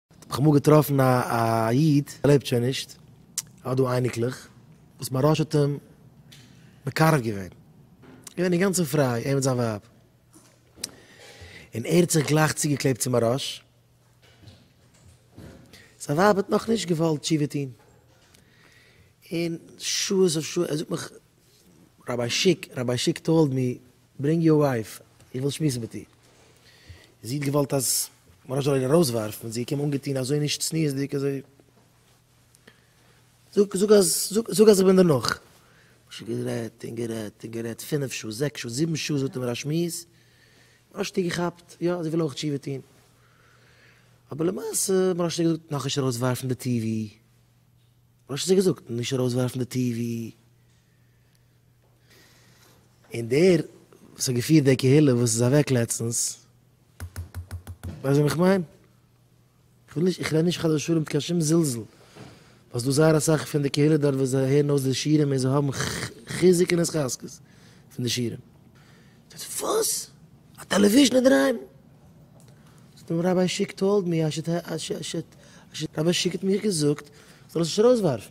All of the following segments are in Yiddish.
האב איך אמאל געטראפן א איד, ער לעבט שוין נישט, ער האט דא אייניקלעך, וואס מוהראש האט אים מקרב געווען, געווען אינגאנצן פריי, ער מיט זיין ווייב, און ער האט זיך גלייך צוגעקלעבט צו מוהראש, זיין ווייב האט נאך נישט געוואלט תשובה טון, און שעות אויף שעות, ער זאגט מיך, ראביי שיק, ראביי שיק טאלד מי, ברענג יור ווייף, איך וויל שמועסן מיט איר. זי האט געוואלט אז מרן זאל איר ארויסווארפן, זי איז געקומען אנגעטון אזוי נישט צניעות'דיג אזוי. זאג, זאג אז, זאג אז איך בין דערנאך. משה האט גערעדט און גערעדט און גערעדט פינף שעה, זעקס שעה, זיבן שעה זאגט ער מיר א שמועס. מרן שטיק געכאפט, יא זי וויל אויך תשובה טון. אבער למעשה, מרן שטיק האט געזאגט נאכנישט ארויסווארפן די טיווי. מרן שטיק האט געזאגט נישט ארויסווארפן די טיווי. און דער וואס האט געפירט די קהילה וואס איז אוועק לעצטנס, ווייסט וועם איך מיין? כ'וויל נישט, איך רעד נישט חס ושלום מיט קיין שום זלזול, ווייל ס'דא זייער אסאך פון די קהילה דארט וואס זיי הערן אויס די שירים און זיי האבן חיזוק און התחזקות פון די שירים. זאגט ער, וואס? א טעלעוויזשן אינדערהיים? זאגט אים, ראביי שיק טאלד מי, ראביי שיק האט מיך געזאגט זאל איך עס נישט ארויסווארפן.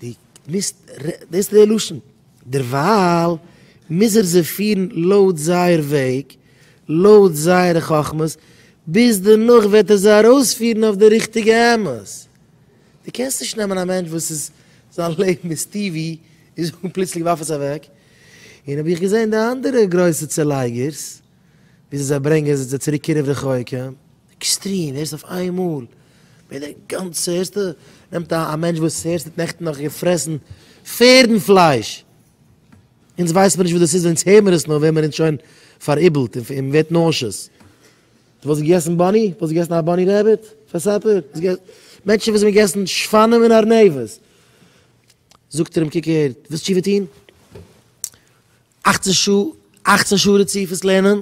די מיזט דאס ר' לשון, דערווייל מיז ער זיי פירן לויט זייער וועג, לויט זייערע חכמות, ביז דערנאך וועט ער זיי ארויספירן אויף די ריכטיגע אמת. די קענסט נישט נעמען א מענטש וואס איז זיין לעבן איז טיווי און זאגן פלוצלינג ווארף עס אוועק, און האב איך געזען די אנדערע גרויסע צעלייגערס, וויאזוי זיי ברענגען זיך צו צוריק קירוב רחוק, עקסטרים, הערסט אויף איין מאל ווערט די גאנצע, הערסטו, נעמט א א מענטש וואס הערסט האט נעכטן נאך געפרעסן פערדן פלייש, אונז ווייסן מיר נישט וואס דאס איז אונז הער מיר עס נאר ווערט מיר אונז שוין פאראיבלט און און מ'ווערט נאושעס. דו וואלסט געגעסן באני? וואלסט געגעסן א באני רעביט פאר סאפער? וואלסט געגעסן מענטשן וואס האבן געגעסן שפנים און ארנבת? זאגט ער אים קוק הער, ווילסט תשובה טון? אכצן שעה, אכצן שעה רציפות לערנען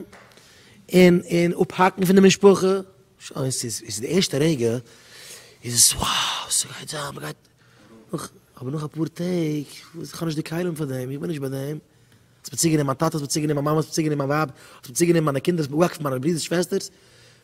און און אפהאקן פון די משפחה, שוין ס'איז איז די ערשטע רגע איז עס wow ס'גייט זיין מ'גייט נאך אבער נאך אפאר טעג וואס כ'האב נישט די כלים פאר דעם איך בין נישט ביי דעם האסט מיר צוגענומען מיין טאטע האסט מיר צוגענומען מיין מאמע האסט מיר צוגענומען מיין ווייב האסט מיר צוגענומען מיינע קינדער האסט מיר אפגעוואקפט פון מיינע ברידערס שוועסטערס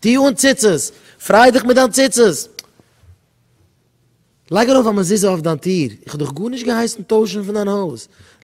טו אן ציצית! פריי דיך מיט דיין ציצית! לייג ארויף א מזוזה אויף דיין טיר! איך האב דיך גארנישט געהייסן טוישן פון דיין הויז!